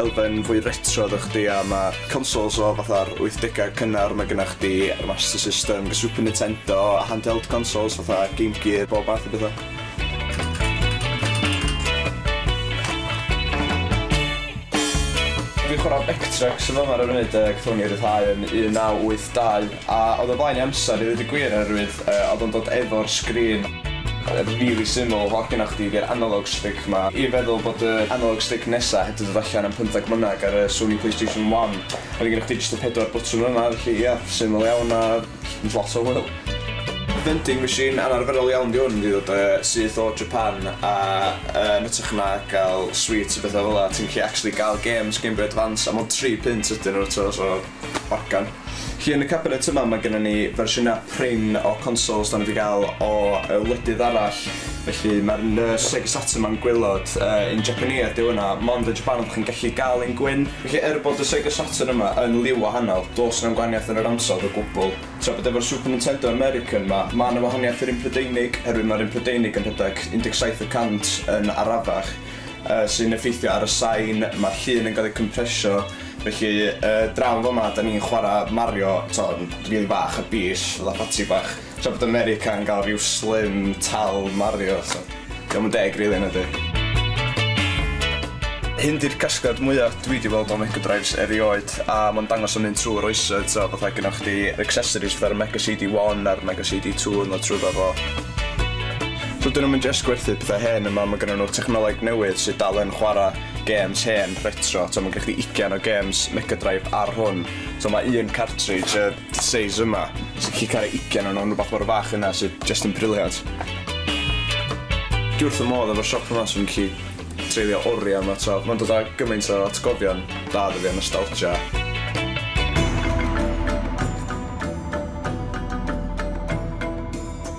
elfen fwy retro da chdi a ma' consoles o fatha'r wythdegau cynnar ma' gynna chdi Master System, Super Nintendo, handheld consoles fatha Game Gear bob math o betha. Fi'n chwara Vectrex yn fama ar y funud yy gathon ni ryddhau yn un naw wyth dau. A oedd o flaen ei amser i ddeud y gwir oherwydd yy oedd o'n dod efo'r sgrin. Rili syml, holl gennoch chdi di'r analog stick ma. I feddwl bod y analog stick nesa heb di dod allan am pymtheg mlynedd ger y Sony Playstation One a wedyn gennoch chdi jyst y pedwar bwtwn yna felly ia, syml iawn a jyst lot o hwyl. Vending machine anarferol iawn di hwn, di dod yy syth o Japan a yy yn ytrach na gal sweets a betha fela ti'n gallu actually gal games Gameboy Advance a mond tri punt ydyn nhw t'o' so Organ. Felly yn y cabinet yma mae gennym ni fersiynau prin o consoles dan ni wedi cael o y wledydd arall. Felly mae'r un yy Sega Saturn ma'n gwaelod yy un Japaneaidd ydyw hwnna, mond yn Japan ydych chi'n gallu gael un gwyn. Felly er bod y Sega Saturn yma yn liw wahanol, does na'm gwahaniaeth yn yr ansawdd o gwbl. Tra bod efo'r Super Nintendo American 'ma, ma' 'na wahaniaeth i'r un Prydeinig, oherwydd mae'r un Prydeinig yn rhedeg 17 y cant yn arafach, yy sy'n effeithio ar y sain, ma'r llun yn gael ei cympresio, Felly yy draw fama 'da ni'n chwara Mario t'o' yn rili bach a bell fatha patsi bach tra bod America'n ga'l ryw slim tal Mario so 'di o'm yn deg rili nadi? Hyn 'di'r casgliad mwya dwi 'di weld o Mega Drives erioed a ma'n dangos o'n mynd trw'r oesoedd t'o' fatha gynnoch chdi yr accessories fatha'r Mega CD one a'r Mega CD two yn ddod trwyddo fo. Dydyn nw'm yn jyst gwerthu petha hen yma ma' gynnon nw technoleg newydd sy dal yn chwara gêms hen, retro, t'o' ma'n gen chdi ugian o gêms Mega Drive ar hwn. T'o' ma' un cartridge y seis yma, so chi cario ugian o nw'n rwbath mor fach yna sy jyst yn brilliant. Dwi wrth fy modd efo'r siop yma so fi'n gallu treulio oria yma t'o'. Ma'n dod â gymaint o atgofion da 'da fi a nostalgia.